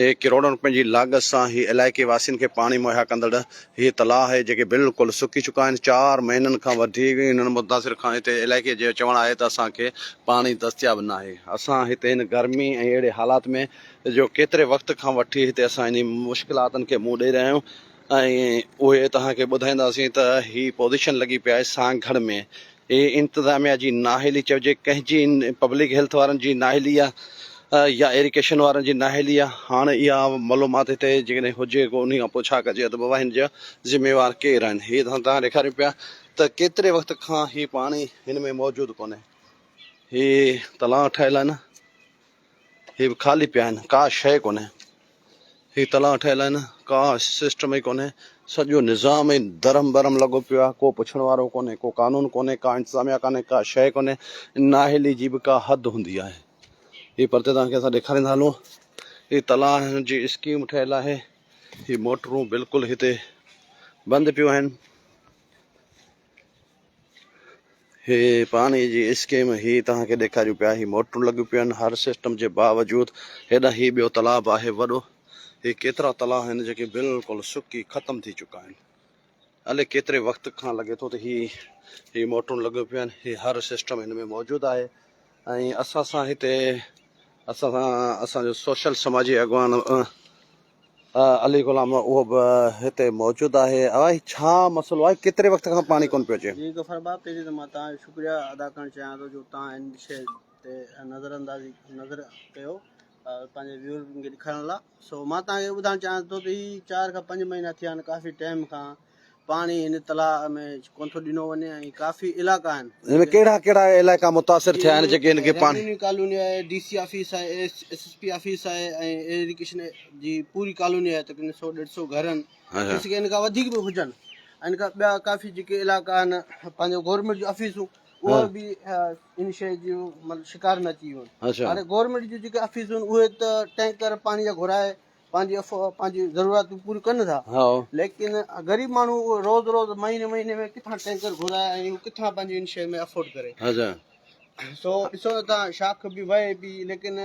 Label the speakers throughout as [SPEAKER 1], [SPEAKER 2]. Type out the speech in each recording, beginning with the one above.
[SPEAKER 1] اهي ڪروڙن روپين جي لاڳت سان هي علائقي واسين کي پاڻي مهيا ڪندڙ هي تلاء آهي جيڪي بلڪل سڪي چڪا آهن چار مهينن کان وڌيڪ انهن متاثر کان هتي علائقي جو چوڻ آهي ته اسان کي پاڻي دستياب ناهي اسان هتي هن گرمي ۽ اهڙي حالات ۾ جو ڪيتري وقت کان وٺي هتي اسان انهي مشڪلاتن کي منهن ڏئي رهيا آهيون ۽ اهي توهان کي ٻڌائينداسين ته هي پوزيشن لڳي پئي آهي سانگهڙ ۾ هي انتظاميا جي نااهلي چئجي ڪنهن جي پبلڪ هيلٿ وارن جي نااهلي آهي يا ايريڪيشن وارن جي نااهلي آهي هاڻ اها ملومات هتي جيڪڏهن هجي ڪو انهي کان پوء ڇا ڪجي ته بابا هن جا ذميوار ڪير آهن هي اسان توهان ڏيکاريون پيا ته ڪيتري وقت کان هي پاڻي هن ۾ موجود ڪونهي هي تلاء ٺهيل آهن. هي به خالي پيا آهن ڪا شيء ڪونهي هي تلاء ٺهيل آهن ڪا سسٽم ئي ڪونهي سڄو نظام ئي درم برم لڳو پيو آهي ڪو پڇڻ وارو ڪونهي ڪو قانون ڪونهي ڪا انتظاميا ڪانهي ڪا شيء ڪونهي ناهلي جي به ڪا حد هوندي آهي هي پرتي توهان کي اسان ڏيکاريندا هلون هي تلاء جي اسڪيم ٺهيل آهي هي موٽرون بلڪل هتي بند پيون آهن هي پاڻي جي اسڪيم هي توهان کي ڏيکاريون پيا هي موٽرون لڳيون پيون آهن هر سسٽم جي باوجود هيڏانهن هي ٻيو تالاب آهي وڏو هي ڪيترا تلا آهن جيڪي بلڪل سڪي ختم ٿي چڪا آهن الي ڪيتري وقت کان لڳي ٿو ته هي هي موٽرون لڳيون پيون آهن هي هر سسٽم هن ۾ موجود آهي ۽ اسان سان هتي اسان سان اسان جو سوشل سماجي اڳواڻ علي غلام اهو به هتي موجود آهي اوهائي ڇا مسئلو آهي ڪيتري وقت کان پاڻي ڪون پيو اچي. جي غفار باب پهرين ته مان
[SPEAKER 2] توهان جو شڪريه ادا ڪرڻ چاهيان ٿو جو توهان ان شي تي نظر اندازي نظر ڪيو پنهنجي ويورز کي ڏيکارڻ لاء سو مان توهان کي اهو ٻڌائڻ چاهيان ٿو ته هي چار کان پنج مهينا ٿيا آهن ڪافي ٽائيم کان پاڻي هن تلاء ۾ ڪونه ٿو ڏنو وڃي ۽ ڪافي علائقا آهن. هن ۾ ڪهڙا ڪهڙا
[SPEAKER 1] علائقا متاثر ٿيا آهن جيڪي هن کي پاڻي. ريونيو ڪالوني آهي، ڊي
[SPEAKER 2] سي آفيس آهي، ايس ايس پي آفيس آهي ۽ ايريگيشن جي پوري ڪالوني آهي تقريبن سؤ ڏيڍ سؤ گهر آهن ٿي سگهي ان کان وڌيڪ به هجن ان کان ٻيا ڪافي جيڪي علائقا آهن پنهنجو گورنمينٽ جون آفيسون اها به ان شيء جو مطلب شڪار ۾ اچي ويون آهن هاڻي گورنمينٽ جون جيڪي آفيسون اهي ته ٽينڪر پاڻي جا گهرائي پنهنجي افواهه پنهنجي ضرورتون پوريون ڪن ٿا ليڪن غريب ماڻهو اهو روز روز مهيني مهيني ۾ ڪٿان ٽينڪر گهرائي ۽ اهو ڪٿان پنهنجي ان شهر ۾ افورڊ ڪري سو ڏسو نه تان شاخ به وهي پي ليڪن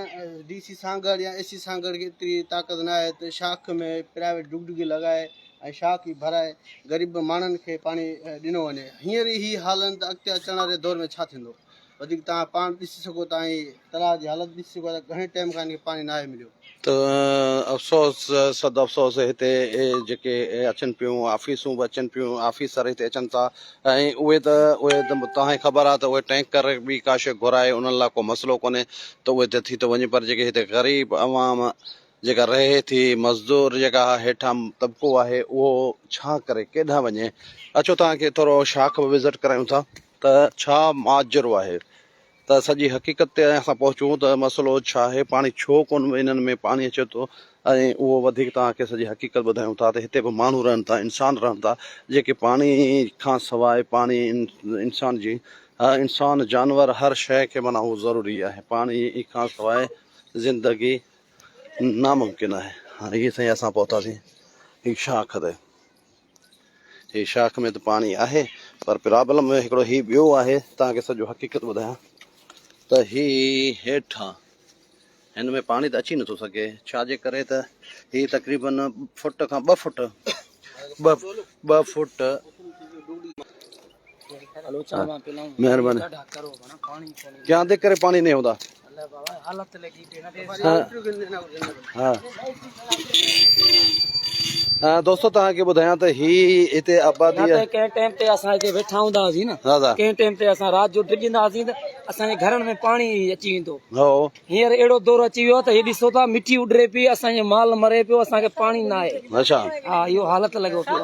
[SPEAKER 2] ڊي سي سانگهڙ يا اي سي سانگهڙ کي ايتري طاقت نه آهي ته شاخ ۾ پرائيويٽ ڊگ ڊگي لڳائي ۽ شاخ ئي ڀرائي غريب ماڻهن کي پاڻي ڏنو وڃي هينئر ئي هي حالن ته اڳتي اچڻ واري دور ۾ ڇا ٿيندو وڌيڪ توهان پاڻ ڏسي سگهو ٿا ۽ تلاء جي حالت ڏسي سگهو ٿا ته گهڻي ٽائيم کان هن کي پاڻي ناهي مليو. ته
[SPEAKER 1] افسوس صد افسوس هتي جيڪي اچن پيون آفيسون به اچن پيون آفيسر هتي اچن ٿا ۽ اهي ته اهي ته توهان کي خبر آهي ته اهي ٽينڪر به ڪا شيء گهرائي انهن لاء ڪو مسئلو ڪونهي ته اهي ته ٿي ٿو وڃي پر جيڪي هتي غريب عوام جيڪا رهي ٿي مزدور جيڪا هيٺان طبقو آهي اهو ڇا ڪري ڪيڏانهن وڃي اچو توهان کي ٿورو شاخ به وزٽ ڪرايون ٿا. ته ڇا ماجرو آهي ته سڄي حقيقت تي اسان پهچون ته مسئلو ڇا آهي پاڻي ڇو ڪون به انهن ۾ پاڻي اچي ٿو ۽ اهو وڌيڪ توهان کي سڄي حقيقت ٻڌايون ٿا ته هتي به ماڻهو رهن ٿا انسان رهن ٿا جيڪي پاڻي کان سواء پاڻي انسان جي انسان جانور هر شيء کي معنيٰ اهو ضروري آهي پاڻي کان سواء زندگي ناممڪن آهي هاڻي هي سائين اسان پهتاسين هي شاخ تي هي شاخ ۾ ته پاڻي آهي پر پرابلم هڪڙو هي ٻيو آهي تان کي سڄو حقيقت ٻڌايان ته هي هيٺان هن ۾ پاڻي ته اچي نٿو سگهي ڇا جي ڪري ته هي تقريبن فٽ کان ٻه فٽ ٻه ٻه فٽ
[SPEAKER 3] مهرباني کيان دي کري پاڻي نه هوندا
[SPEAKER 1] دوستو تان کي ٻڌايان ته هي هتي آبادي ته ڪنهن ٽائيم تي
[SPEAKER 3] اسان هتي ويٺا هوندا هئاسين نه ڪنهن ٽائيم تي اسان
[SPEAKER 1] رات
[SPEAKER 3] جو ڊڄندا هئاسين ته اسان جي گهرن ۾ پاڻي اچي ويندو هو هينئر
[SPEAKER 1] اهڙو دور
[SPEAKER 3] اچي ويو ته هي ڏسو ٿا مٺي اڏري پي اسان جو مال مري پيو اسان کي پاڻي نه آهي اچا ها اهو
[SPEAKER 1] حالت
[SPEAKER 3] لڳو پيو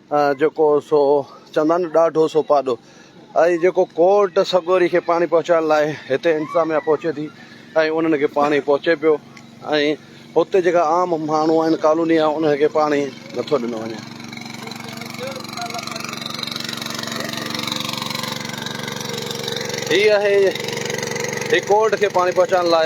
[SPEAKER 1] جيڪو سو چندن ڏاڍو سو پاڏو ۽ جيڪو ڪوٽ سڳوري کي پاڻي پهچائڻ لاء هتي انتظاميا پهچي ٿي ۽ انهن کي پاڻي پهچي پيو ۽ هتي جيڪا عام ماڻهو آهن ڪالوني آهي انهن کي پاڻي نٿو ڏنو وڃي. هي آهي هي ڪوٽ کي پاڻي پهچائڻ لاء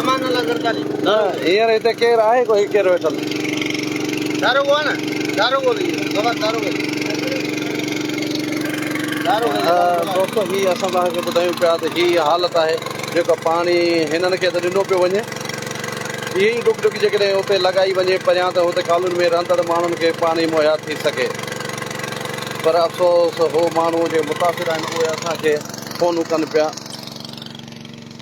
[SPEAKER 1] امان الله زرداري هينئر هتي ڪير آهي ڪو هي ڪير ويٺل داروغو آ نه داروغو به خبر داروغو دوستو هي اسان تهان کي ٻڌايون پيا ته هي حالت آهي جيڪا پاڻي هنن کي ته ڏنو پيو وڃي اهي ئي ڊڪ ڊڪ جيڪڏهن اتي لڳائي وڃي پريان ته هتي ڪالوني ۾ رهندڙ ماڻهن کي پاڻي مهيا ٿي سگهي پر افسوس هو ماڻهو جي متاثر آهن اهي اسان کي فونون ڪن پيا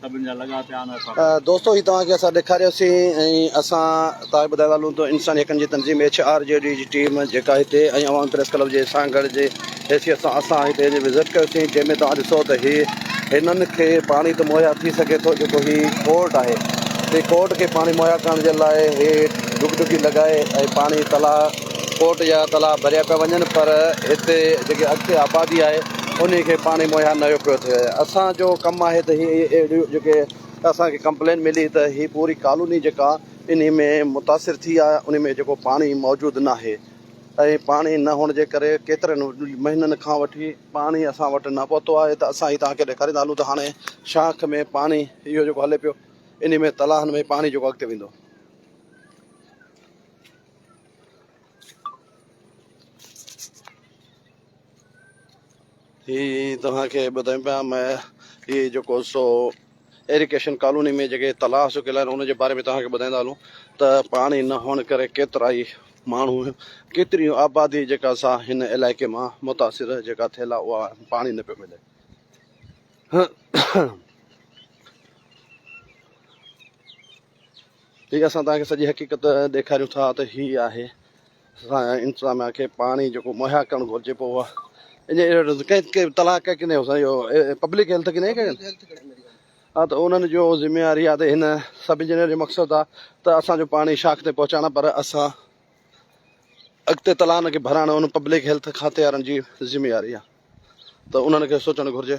[SPEAKER 4] سڀن جا لڳا پيا آهن اسان سان. دوستو هي توهان کي اسان
[SPEAKER 1] ڏيکاريوسين ۽ اسان توهان کي ٻڌائڻ والون ته انساني حقن جي تنظيم ايڇ آر جي ڊي جي ٽيم جيڪا هتي ۽ عوامي پريس ڪلب جي سانگهڙ جي حيثيت سان اسان هتي اچي وزٽ ڪيوسين جنهن ۾ توهان ڏسو ته هي هنن کي پاڻي ته مهيا ٿي سگهي ٿو جيڪو هي ڪورٽ آهي هي ڪورٽ کي پاڻي مهيا ڪرڻ جي لاء هي ڊگهه ڊگهي لڳائي ۽ پاڻي تلاء ڪوٽ جا تلاء ڀريا پيا وڃن پر هتي جيڪي اڳتي آبادي آهي انهي کي پاڻي مهيا نه پيو ٿئي اسان جو ڪم آهي ته هي اهڙيون جيڪي اسان کي ڪمپلين ملي ته هي پوري ڪالوني جيڪا انهي ۾ متاثر ٿي آهي انهي ۾ جيڪو پاڻي موجود ناهي ۽ پاڻي نه هئڻ جي ڪري ڪيترن مهينن کان وٺي پاڻي اسان وٽ نه پهتو آهي ته اسان هي توهان کي ڏيکاريندا هلون ته هاڻي شاخ ۾ پاڻي اهو جيڪو هلي پيو انهي ۾ تلاءن ۾ پاڻي جيڪو اڳتي ويندو. هي توهان کي ٻڌايون پيا م هي جيڪو سو ايريڪيشن ڪالوني ۾ جيڪي تلاء سڪيل آهن ان جي باري ۾ توهان کي ٻڌائيندا هلون ته پاڻي نه هئڻ ڪري ڪيترا ئي ماڻهو ڪيتري آبادي جيڪا سا هن علائقي مان متاثر جيڪا ٿيل آهي اها پاڻي نه پيو ملي هي اسان توهان کي سڄي حقيقت ڏيکاريون ٿا ته هي آهي اسان انتظاميا کي پاڻي جيڪو مهيا ڪرڻ گهرجي پو اها ان ڪنهن تلاش ڪئي ڪنهن اسان جو پبلڪ هيلٿ ڪنهن ڪئي ها ته انهن جو ذميواري آهي ته هن سب انجنيئر جو مقصد آهي ته اسان جو پاڻي شاخ تي پهچائڻ پر اسان اڳتي تلاء ان کي ڀرائڻ ان پبلڪ هيلٿ کاتي وارن جي ذميواري آهي ته انهن کي سوچڻ گهرجي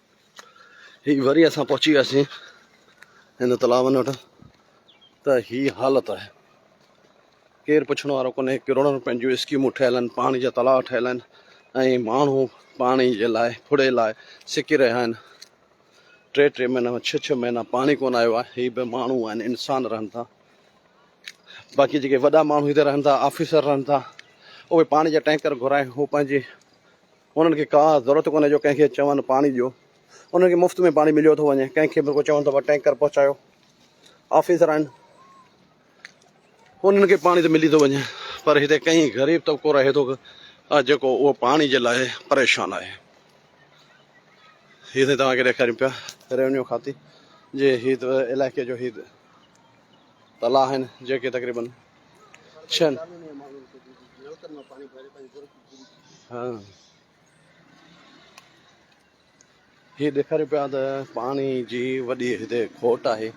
[SPEAKER 1] هي وري اسان پهچي وياسين هن تلاون وٽ ته هي حالت آهي ڪير پڇڻ وارو ڪونهي ڪروڙن روپين جون اسڪيمون ٺهيل آهن پاڻي جا تلاء ٺهيل آهن ۽ ماڻهو پاڻي جي لاء ڦڙي لاء سڪي رهيا آهن ٽي ٽي مهينا ڇهه ڇهه مهينا پاڻي ڪون آيو آهي هي به ماڻهو آهن انسان رهن ٿا باقي جيڪي وڏا ماڻهو هتي رهن ٿا آفيسر رهن ٿا اهي پاڻي جا ٽينڪر گهرائي هو پنهنجي انهن کي ڪا ضرورت ڪونهي جو ڪنهن کي چون پاڻي ڏيو، انهن کي مفت ۾ پاڻي مليو ٿو وڃي، ڪنهن کي به رڳو چون ته ٽينڪر پهچايو، آفيسر آهن انهن کي پاڻي ته ملي ٿو وڃي پر هتي ڪئين غريب طبقو رهي ٿو جيڪو اهو پاڻي جي لاء پريشان آهي. هي سائين توهان کي ڏيکاريون پيا ريونيو کاتي جي هي علائقي جو هي تلا آهن جيڪي تقريبن ڇهن هي ڏيکاريو پيا ته پاڻي جي وڏي هتي کوٽ آهي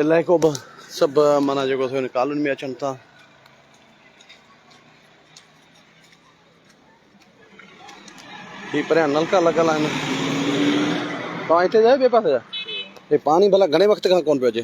[SPEAKER 1] علائقو به سڀ مانا جيڪو ٿيو هن ڪالوني ۾ اچن ٿا هي پريان نلڪا لڳل آهن توهان هتي جا ٻئي پاسي جا هي پاڻي ڀلا گهڻي وقت کان ڪون پيو اچي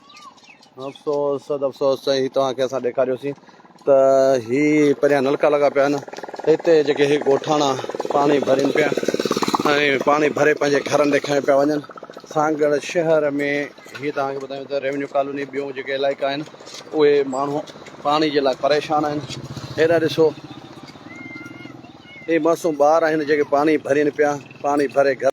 [SPEAKER 1] افسوس صد افسوس سائين هي توهان کي اسان ڏيکاريوسين ته هي پريان نلڪا لڳا پيا آهن هتي جيڪي هي ڳوٺاڻا پاڻي ڀرين پيا ۽ پاڻي ڀري پنهنجي گهرن ڏي کڻي پيا وڃن سانگهڙ شهر ۾ هي توهان کي ٻڌايون ته ريونيو ڪالوني ٻيون جيڪي علائقا آهن اهي ماڻهو پاڻي جي لاء پريشان آهن هيڏا ڏسو هي معصوم ٻار آهن جيڪي پاڻي ڀرين پيا پاڻي ڀري گهر